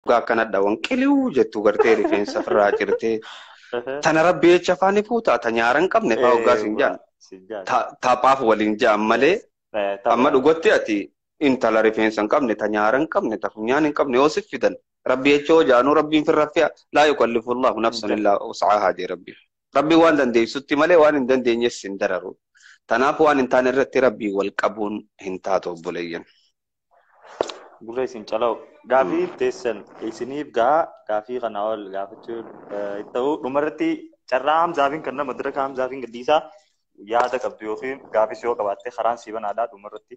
dhugaa akkanadha wan qiliu jettu gartee rifeensa firraa cirtee tana rabbi jecha afaan ifuu taa ta nyaara hin qabne faa hoggaa siin jaan ta- taphaaf waliin jaan malee amma dhugatti ati intala rifeensa hin qabne ta nyaara hin qabne ta funyaan hin qabne yoo sif fidan rabbi jecha hoo jaanuu rabbiin firra fi'a laa yukallifu allahu nafsan illaa wus'aahaa jee rabbi rabbi waan dandeessutti malee waan hin dandeenyes hin dararu tanaaf waan hin taane irratti rabbii wal qabuun hin taatu obboleeyyan Gurra isin calaa'u. Gaafii teessan isiniif gahaa gaafii kana ol gaafachuu eh, itti ta'u dhumarratti carraa hamzaafiin kan nama diraka hamzaafiin gadhiisaa yaada qabdu yookiin gaafis yoo qabaatte karaan sii banaadhaa dhumarratti.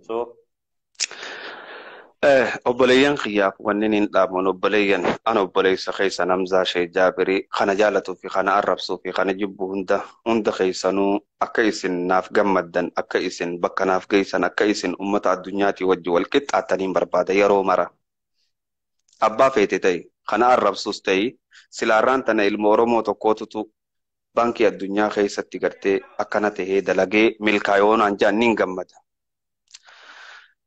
So Eh, obboleeyyan kiyyaaf wanni niin dhaamuun obboleeyyan an obboleessa keessa namzaa shee jaabirii kana jaalatuu fi kana arrabsuu fi kana jibbu hunda hunda keessanuu Akka isin naaf gammaddan, akka isin bakka naaf geessan, akka isin ummata addunyaatii wajji wal qixxaattaniin barbaada yeroo mara. Abbaa feete ta'i, ka na arrabsus ta'i, silaa arraan tana ilma Oromoo tokkootutu Baankii Addunyaa keessatti gartee akkana tahee dalagee milkaa'e yoo naan jedhan niin gammada.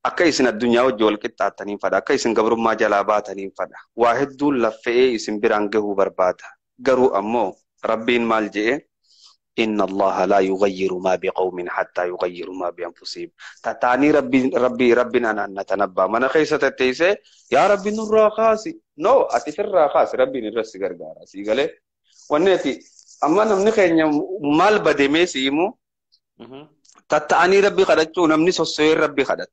Akka isin addunyaa wajji wal qixxaattaniin fadha, akka isin gabrummaa jalaa baataniin fadha. Waa hedduun laffe'ee isin biraan gahuu barbaada. Garuu ammoo Rabbiin maal je'e? Inna Allaaha laa yughayyiru maa biqawmin hattaa yughayyiru maa bi'anfusihim. Tataanii Rabbiin Rabbii Rabbiin anaan na tanabbaa mana keessa tatteessee yaa Rabbi nurraa kaasi. No ati firraa kaasi Rabbiin irra si gargaara sii galee. Wanni ati amma namni keenya maal bademee si himu tatta'anii Rabbi kadhachuu namni sossoyeen Rabbi kadhata.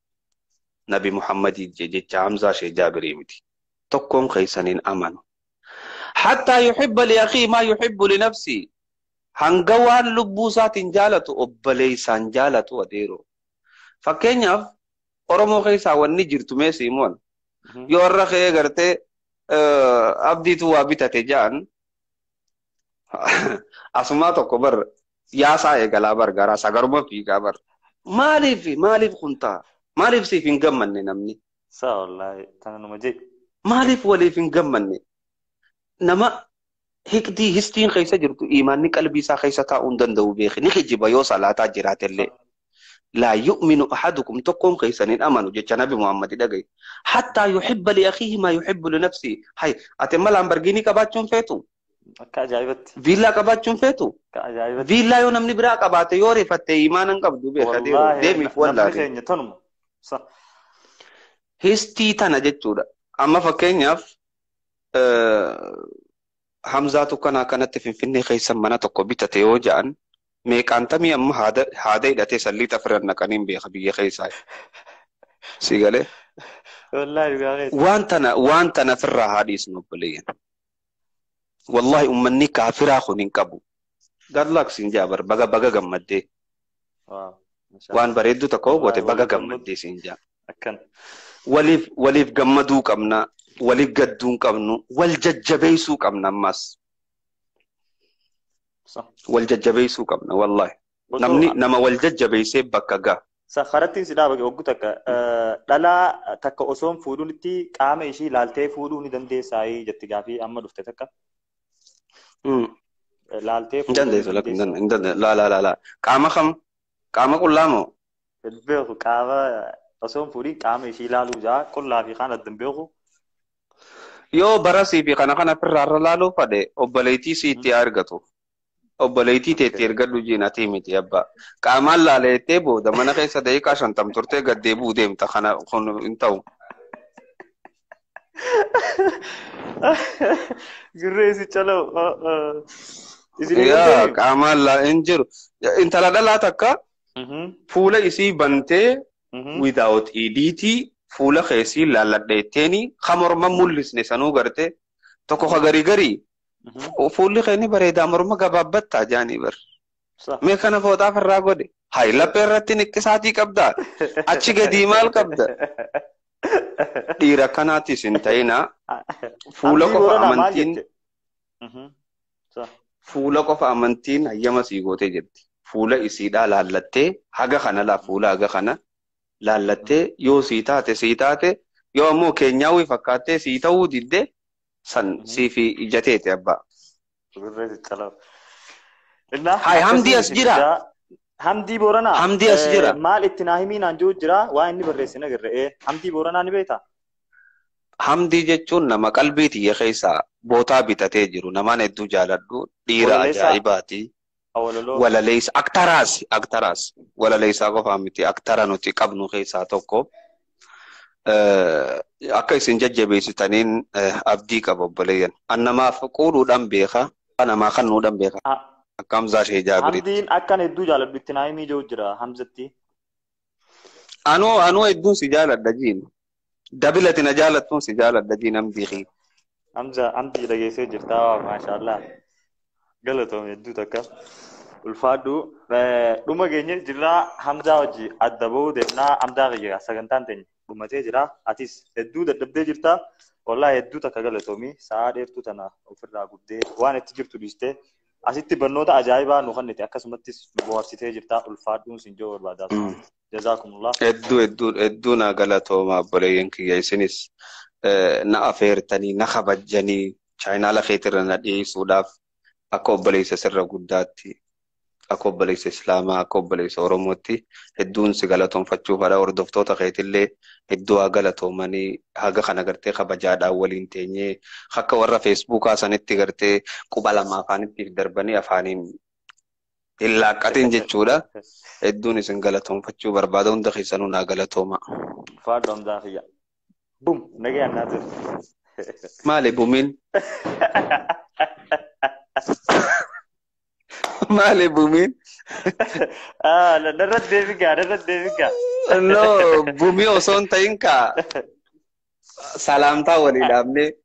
nabi muhammadii jee jecha hamzaa shee jaabirii miti tokkoon keessan hin amanu hattaa yuhibba li akii maa yuhibbu li nafsii hanga waan lubbuu isaatiin jaalatu obboleessaan jaalatu adeero fakkeenyaaf oromoo keessaa wanni jirtu mee siimoon yoo irra kee gartee abdiitu waa bitate ja'an Asumaa tokko bar yaasaa eegalaa bar garaa isaa garuma fiigaa bar. Maaliif maaliif kun ta'a? Maaliif siif hin gammanne namni? Saa wallaahi tana numa jee. Maaliif waliif hin gammanne? Nama hiqdii histiin keessa jirtu iimaanni qalbii isaa keessa taa'uu hin danda'u beeki. Ni kijiba yoo salaataa jiraatellee. laa yu'minu ahadukum tokkoon keessan hin amanu jecha nabi muhammadi dhagaye hattaa yuhibba li akiihi maa yuhibbu li nafsii hay ati amma laambargiinii qabaachuun feetu Akka ajaa'ibatti. viillaa qabaachuun feetu Akka ajaa'ibatti. viillaa yoo namni biraa qabaate yoo rifatte imaana hin qabdu beeka deemu Wallaahi deemiif namni wallaale keenya tanuma. Sa. histii tana jechuudha amma fakkeenyaaf eh, Hamzaatu kanaa kanatti Finfinnee keessa mana tokko bitate yoo ja'an meeqaantamii amma haada haada hidhatee san liixa firan naqanii hin beeka biyya keessaa. Si galee? Wallaahi dhugaa keessa. Waan tana waan tana firraa haa dhiisnu obboleeyyan. Wallaahi ummanni kaafiraa kun hin qabu. Gadlaak siin jaa bar baga baga gammaddee. Waaw. Mashaa Waan Allah. bareedduu tokko Wallahi goote baga waliif gammadu. gammaddee siin jaa. Akkan. Waliif waliif gammaduu qabna. Waliif gadduu hin qabnu. Wal jajjabeessuu qabna ammas. Sa. Wal jajjabeessuu qabna wallahi. Osoo Namni nama wal jajjabeessee bakka ga'a. sa karattiin si dhaabage oggu takka eh, dhalaa takka osoo hin fuudhinitti qaama ishii ilaaltee fuudhuu ni dandeessaayii jetti gaafii amma dhufte takka. Mm. Laaltee Hin dandeessu lakki hin dandeessu. dandeessu. Laa laa laa laa. Qaama kam? Qaama qullaa moo? Hin beeku qaama osoo hin fuudhin qaama ishii ilaaluu jaa qullaa fi kaan adda hin beeku. Yoo barasii fi kana kana firraarra laaluu fadhe obboleettii siitti haa argatu. obboleettii teetti ergadhu jiin atii miti abbaa qaamaan laala jettee booda mana keessa daqiiqaa shantam turtee gad deebi'uu deemta kana kun hin ta'u. Gurree si calaw. Isin Yaa qaamaan laa hin jiru intala dhalaa takka fuula isii bantee without idiitii fuula keessii laalladheetteeni ka morma mul'isne sanuu garte tokko ka garii garii Fu- Fuulli kee ni bareeda morma gabaabbatta jaanii bar. Saha. Mee kana fooxaaf irraa godhe. Hayi laphee irratti niqqisaatii qabda. Achi gadii maal qabda? Dhiira akkanaatis hin ta'inaa. Fuula Abdii qofa Booranaa maal amantiin jette? Mhm. Saha. fuula qofa amantiin hayyama sii gootee jirti. Fuula isiidhaa laallattee haga kana laa fuula haga kana laallattee yoo sii taate sii taate yoo ammoo keenyaawwi fakkaattee sii ta'uu didde san siifi ijateeti abbaa. Birree xixxaloo. Innaa Haay, Hamdii akkasiin as isin jira? fidaa. Hamdii Booranaa. Hamdii as eh, jira? Maal itti naa himii naan jiru jira waa inni barreesse hin agarre. Eh, Hamdii Booranaa ni beektaa? Hamdii jechuun nama qalbii tiyya keessaa bootaa bitatee jiru namaan hedduu jaaladhu dhiira Walaleessaa. ajaa'ibaati. Awaloloo. walaleessa aktaraas aktaraas walaleessaa qofaa miti aktara nuti qabnu keessaa tokko Eh, akka isin jajjabeessitaniin eh, abdii qaba obboleeyyan an namaaf quudhuudhaan beeka an namaa kennuudhaan beeka Ha- akka hamzaa shee jaabiritti Hamziin akkan hedduu jaaladhu itti naayimii jiru jira Hamzatti. anuu anuu hedduun si jaaladha jiin Dabilati na jaalattuun si jaaladha jiin amdii kiyya. Amza amdii dhageessee jirtaa waa maashaallah galatoomi hedduu takka ulfaadhu Eh, dhuma geenye jirraa hamzaa wajji adda ba'uu deemnaa hamzaa kiyya sagantaan teenya dhumatee jira atis hedduu dadhabdee jirta wallahi hedduu takka galatoomi sa'aa dheertuu tana ofirraa gubdee waan itti jirtu dhiistee asitti barnoota ajaa'ibaa nu kennite akkasumattis nu bohaarsitee jirta ulfaadhuun sin jechuu barbaada. Jazaakumullah. Hedduu hedduu hedduu naa galatooma obboleeyyan kiyya isinis eh, na afeertanii na kabajjanii chaayinaala keetirra na dhiyeessuudhaaf akka obboleessa sirra guddaatti akka obboleessa islaamaa akka obboleessa oromootti hedduun si galatoomfachuuf haadha hordoftoota keetillee hedduu haa galatoomanii haga kana gartee kabajaadhaan waliin teenyee akka warra feesbuukaa sanitti gartee quba lama afaanittiif darbanii afaaniin hin laaqqatin jechuudha. Hedduun isin galatoomfachuu barbaada hunda keessanuu naa galatooma. Faadhu Hamzaa kiyya. Bum nagayaan naa ture. Maali bumiin? Maali bumiin? Ah, na- narra deebi gaa, narra deebi gaa. No, bumii osoo hin ta'in kaa salaamtaa walii dhaabnee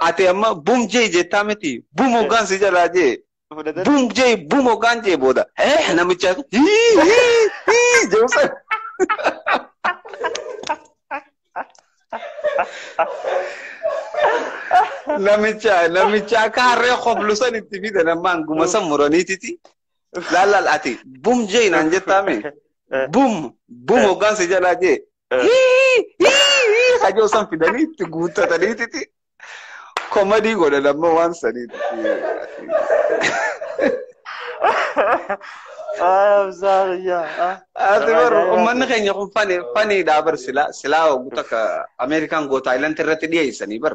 Ati amma bum jee jettaa miti. Bum hoggaan si jalaa jee. Fudhatan. Bum jee bum hoggaan jee booda. Eh namicha hii hii hii jeesan. Namicha namicha akka harree koflusan itti fidan ammaan guma san muraniititi. Laal laal ati bum jee naan jettaa mee? Bum bum hoggaan si jalaa jee. Hii hii hii hajoo san fidanii itti guuttatanii titi. Komadii godhan amma waan sanii. Ati bar uummanni keenya kun fani faniidhaa bar silaa silaa oguu takka Ameerikaan goota Taayilaanti irratti dhiyeessanii bar.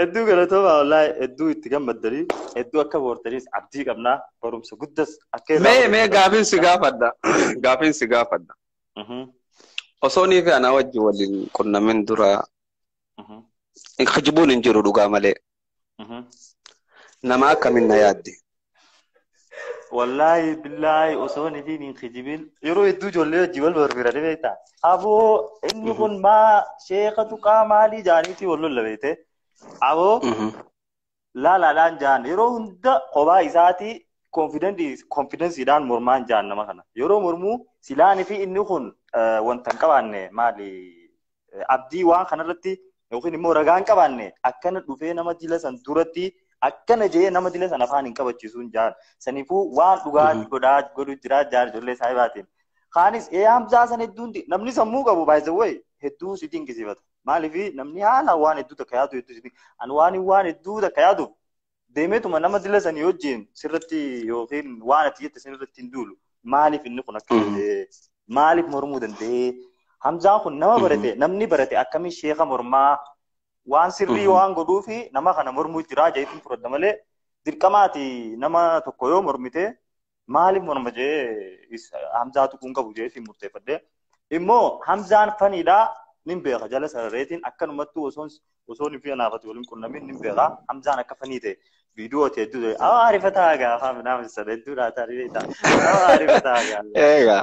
Hedduu galatoomaa wallaahi hedduu itti gammaddanii hedduu akka boortaniis abdii qabnaa barumsa guddas akka irraa Mee mee barachuu gaafiin si gaafadha. Gaafiin si gaafadha. Mhm, Osoo nii fi anaa wajji waliin qunnamin dura mhm, kijibuun hin jiru dhugaa malee. mhm. Nama akkamiin na yaadde? Wallaahi billaahi osoo hin ifiin hin kijibin yeroo hedduu ijoollee wajjin wal barbiira ni beekta. Aboo inni Mhm. kun maa sheeka tuqaa maalii jaaniitii wal lolla beekte. Aboo Mhm. laalaadhaan jaan yeroo hunda kophaa isaatii konfidensiidhaan mormaan jaan nama kana. Yeroo mormuu silaan fi inni kun eh, wanta hin qabaanne maali abdii waan kanarratti yookiin immoo ragaan qabaanne akkana dhufee nama dila san duratti akkana jee nama dila san afaan hin qabachiisuun jaan sanifuu waan dhugaa godhaa godhu jiraa jaan ijoollee saahibaatiin. Kaanis ee hamzaa san hedduun namni sammuu qabu baay'isawwee hedduu si dinqisiifata. Maaliif namni haala waan hedduu takka yaadu hedduu si ani waan waan hedduu takka yaadu deemeetuma nama dila sanii wajjin sirratti yookiin waan ati jette sanirratti hin duulu. Maaliif inni kun akka ta'e maaliif mormuu danda'ee Hamzaan kun nama barate namni barate akkamiin sheeka mormaa waan sirrii waan godhuu fi nama kana mormuu jiraa jedheetiin fudhadha malee dirqamaati nama tokko yoo mormite maaliif morma jee is- hamzaa tuquun qabu jee ittiin murteeffadhe immoo hamzaan faniidhaa nin beeka jala sarareetiin akkanumattuu osoon osoon fi anaafati waliin qunnamiin nin beeka hamzaan akka fanii ta'e viidiyoo ta'e hedduu ta'e awaa arifataa gaafa midhaan sadhedduu dhaataa ribeetaa awaa arifataa gaafa Egaa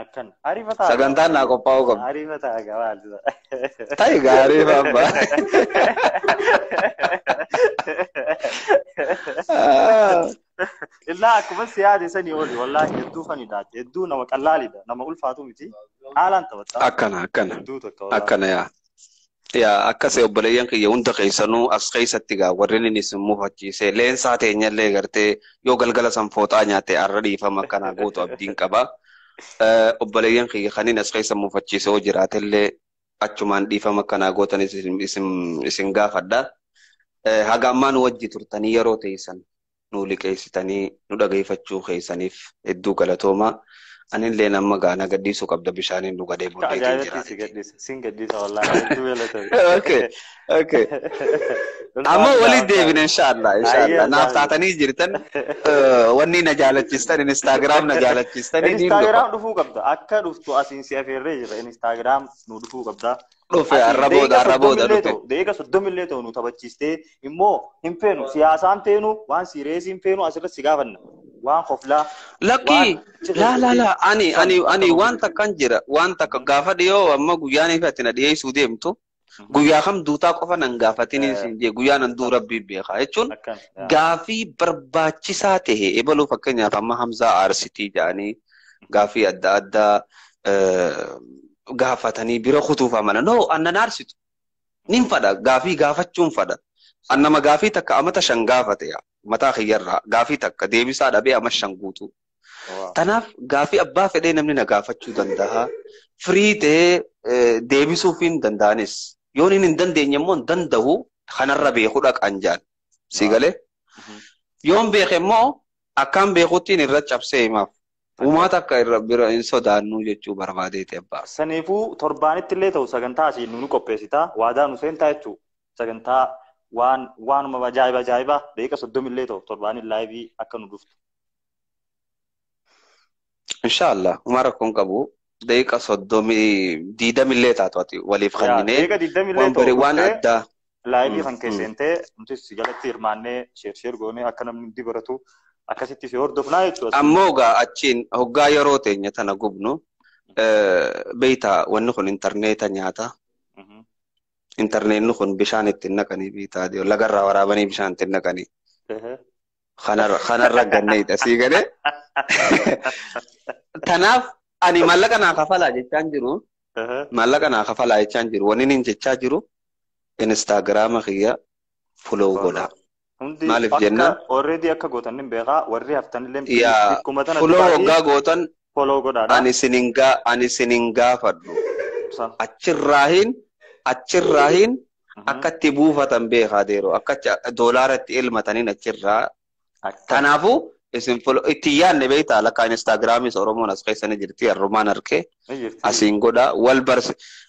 Akkan ariifataa. Sagantaan naa qophaa'uu qabdi. Ariifataa egaa maaltu ta'a. Ta'i gaarii baabba. Illaa akkuma si yaade sanii oli wallaahi hedduu fanidha. Hedduu nama qallaalidha. Nama ulfaatu miti. Haalaan taphatta. Akkana akkana Hedduu tokko wallaahi. akkana yaa. Yaa akkas obboleeyyan kiyya hunda keessanuu as keessatti gaa warreen inni isin mufachiise leensaa teenyallee gartee yoo galgala san fooxaa nyaatte arra dhiifama akkanaa gootu abdiin qaba. Eh, Obboleeyyan kiyya kanneen as keessa mufachiise yoo jiraatellee achumaan dhiifama akkanaa gootanis isin, isin, isin gaafadha. Eh, Haga ammaa nu wajji turtanii yeroo teessan nuu liqeessitanii nu dhageeffachuu keessaniif hedduu galatoomaa. Anilleen amma gaa na gadhiisuu qabda bishaaniin dhugadhee Ka booddee ittiin ajaa'ibatti jira. si gadhiisa. Sin gadhiisa wallaahi. Hedduu galatoomi. Okay, okay. Amma Ulfaadhu waliin daawwataa. deebina inshaallah Ayyee inshaallah. Naaf Allaah. taatanii jirtan eh, wanni na jaalachistan instagram na jaalachistan niin dhufa. Instagram dhufuu qabda. Akka dhuftu asiin si afeerree jira. Instagram nu dhufuu qabda. Dhufe Ati arra booda daqiiqa arra booda soddomillee dhufe. ta'u daqiiqa soddomillee ta'u nu taphachiistee immoo hin feenu siyaasaan feenu waan siireesii hin feenu asirratti si gaafanna waan koflaa Lakkii waan cirra laa laa jettee laa ani san ani akka ani nu waan beektu. takkan jira waan takka Mm. gaafa dhiyoo amma guyyaan ifa ati na dhiyeessuu deemtu Mhm. guyyaa kam duutaa qofa nan gaafatiniin Eh, siin jee guyyaa nan duu akkam rabbii beekaa jechuun akkam yaa. gaafii barbaachisaa ta'e ebaluu fakkeenyaaf amma Hamzaa Aarsitii jedhanii gaafii adda addaa eh, gaafatanii bira kutuuf amana no annan aarsitu nin fadha gaafii gaafachuun fadha an nama gaafii takka amata shan gaafate yaa mataa kiyyarraa gaafii takka deebisaa dhabee ama shan guutuu Waa. tanaaf gaafii abbaa fedhee namni na gaafachuu danda'a firii ta'ee eh, deebisuuf hin danda'anis yoon hin dandeenye immoo hin danda'u kanarra beeku dhaqaan jaan si Waa. galee Mhm. yoon beeke immoo Akkaan beekuttiin irra cabsee himaaf. Uumaa takka irra bira hin sodaannuu jechuu barbaadeeti abbaa. Saniifuu torbaanitti illee ta'u sagantaa asii nu qopheessitaa waadaa nu seentaa jechuu sagantaa waan waanuma ajaa'iba ajaa'iba daqiiqa soddomi illee ta'u torbaaniin laayivii akka nu dhuftu. Insha Allah. Uma rakkoon qabu. Daqiiqa soddomii diidamillee taatu ati waliif Yaa kenninee deega digdamillee waan ta'u barii waan dhuftee addaa. laayivii Mm, kan mm. keesseentee nutis si jalatti hirmaannee sheer sheer goonee akka namni hundi baratu akkasitti si hordofnaa jechuudha si. Ammoo gaa achiin hoggaa yeroo teenya tana gubnu eh, beeytaa wanni kun intarneeta nyaata. Mhm. Intarneetni kun bishaan ittiin naqanii beeytaa lagarraa waraabanii bishaan ittiin naqanii. Ehe. Kanarra kanarra ganneedha sii galee. Tanaaf ani maallaqa naa kafalaa jechaan jiru. Aha. Maallaqa naa kafalaa jechaan jiru. Wanni inni jechaa jiru Instaagiraama kiyya follow godhaa. Hundi Maaliif akka jennaan? already akka gootan hin beekaa warri haftanillee Yaa please bikkuma tana follow dubaati. waggaa gootan follow godhaa dha. Ani sinin ga ani sinin gaafadhu. Sa. Achirraahin achirraahin Mhm. akka itti buufatan beekaa deero akka achi- doolaara itti elmataniin achirraa Akka. kanaafuu isin folo itti hin yaadne beektaa lakkaa instaagiraamiis oromoon as keessa ni jirti harrumaan harkee Ni jirti. asiin godha wal barsi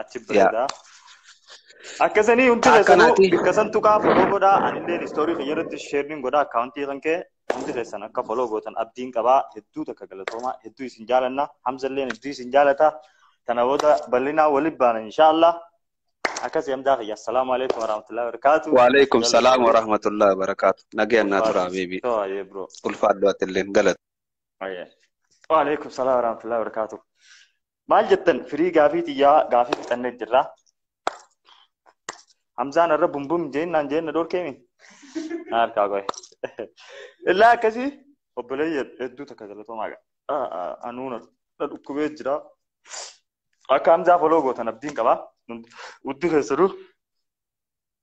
achi bareeda. Akkasanii hundi keessanuu bakka san tuqaa foloo godhaa anilleen istoorii kiyya irratti sheerniin godhaa akkaawuntii kan kee hundi keessan akka foloo gootan abdiin qabaa hedduu takka galatoomaa hedduu isin jaalanna hamzalleen hedduu isin jaalata tana booda bal'inaa waliin baana inshaallah akkasii hamdaa kiyya assalaamu alaikum warahmatullahi wabarakaatu. Waalaikum salaam warahmatullahi wabarakaatu nagayaan naa turaa beebii ulfaadhu atilleen galata. Waalaikum salaam warahmatullahi wabarakaatu. Maal jettan firii gaafii tiyyaa gaafii fixannee jirra. Hamzaan irra bumbum jeennaan jeenna dhorkeemi. Na harkaa qoye. Illaa akkasii obboleeyya hedduu takka galatoomaa qaba. Anuu na dhukkubee jira. Akka Hamzaa foloo gootan abdiin qaba. Hundi keessanuu.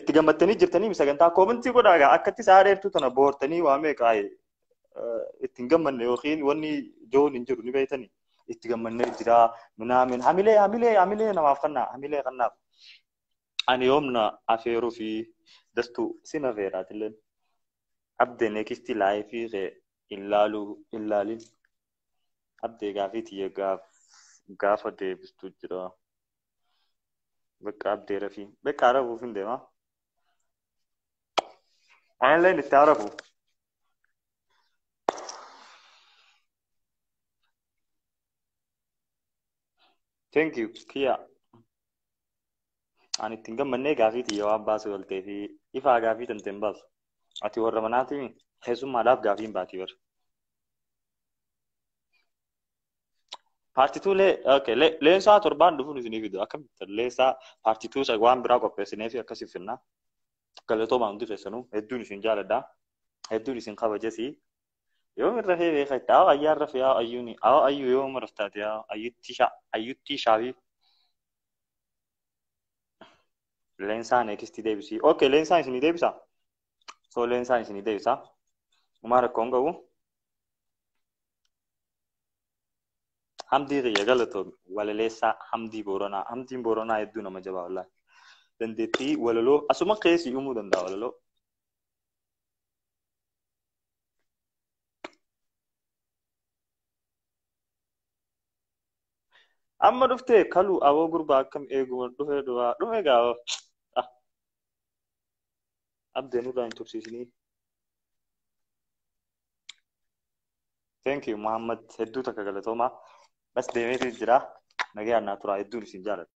itti gammattanii jirtanii sagantaa koomentii godhaa egaa akkatti sa'a dheertuu tana boortanii waa meeqa ittiin gammanne yookiin wanni joon hin jiru ni beektanii itti gammannee jira minaamin hamilee hamilee hamilee namaaf kannaa hamilee kannaaf ani yoomna afeeruu fi dastuu sin afeeraatillee abdee neekistii laayifii kee illaaluu illaalin abdee gaafii tiyya gaaf gaafa deebistu jira. Bakka abdee rafii. Bakka arabuuf hin deema. Anillee itti arabu. Thank you, Kiya. Ani ittiin gammannee gaafii tiyya waan baasuu galtee fi ifaa gaafii tante hin baasu. Ati warra manaatiin keessummaadhaaf gaafii hin baati bara. Paartituu lee, okay, lee, leensaa torbaan dhufuun isinii fidu. Akkamitti leensaa paartituu isa waan biraa qopheessinee fi akkasii finnaa. Galatoomaa hundi keessanuu hedduun isin jaaladha. Hedduun isin kabajasi. Yoom irra fee beeka itti awa ayyaa irra fee awa ayyuuni awa ayyuu yoom irra taate awa ayyutti shaa ayyutti shaafi. Leensaa neekisti deebisii. Okay, leensaan isinii deebisa. So leensaan isinii deebisa. Umaa rakkoo hin qabu. Hamdii kiyya galatoomi walaleessaa Hamdii Booranaa Hamdiin Booranaa hedduu nama jabaa wallaahi dandeettii walaloo asuma keessi uumuu danda'a walaloo amma dhufte kalu aboo gurbaa akkam eeguma dhufe duraa dhume gaafa abdee nurraa hin tursiisinii Thank you Muhammad hedduu takka galatoomaa. Bas deemeetu jira. Nagayaan naa turaa hedduun isin jaaladha.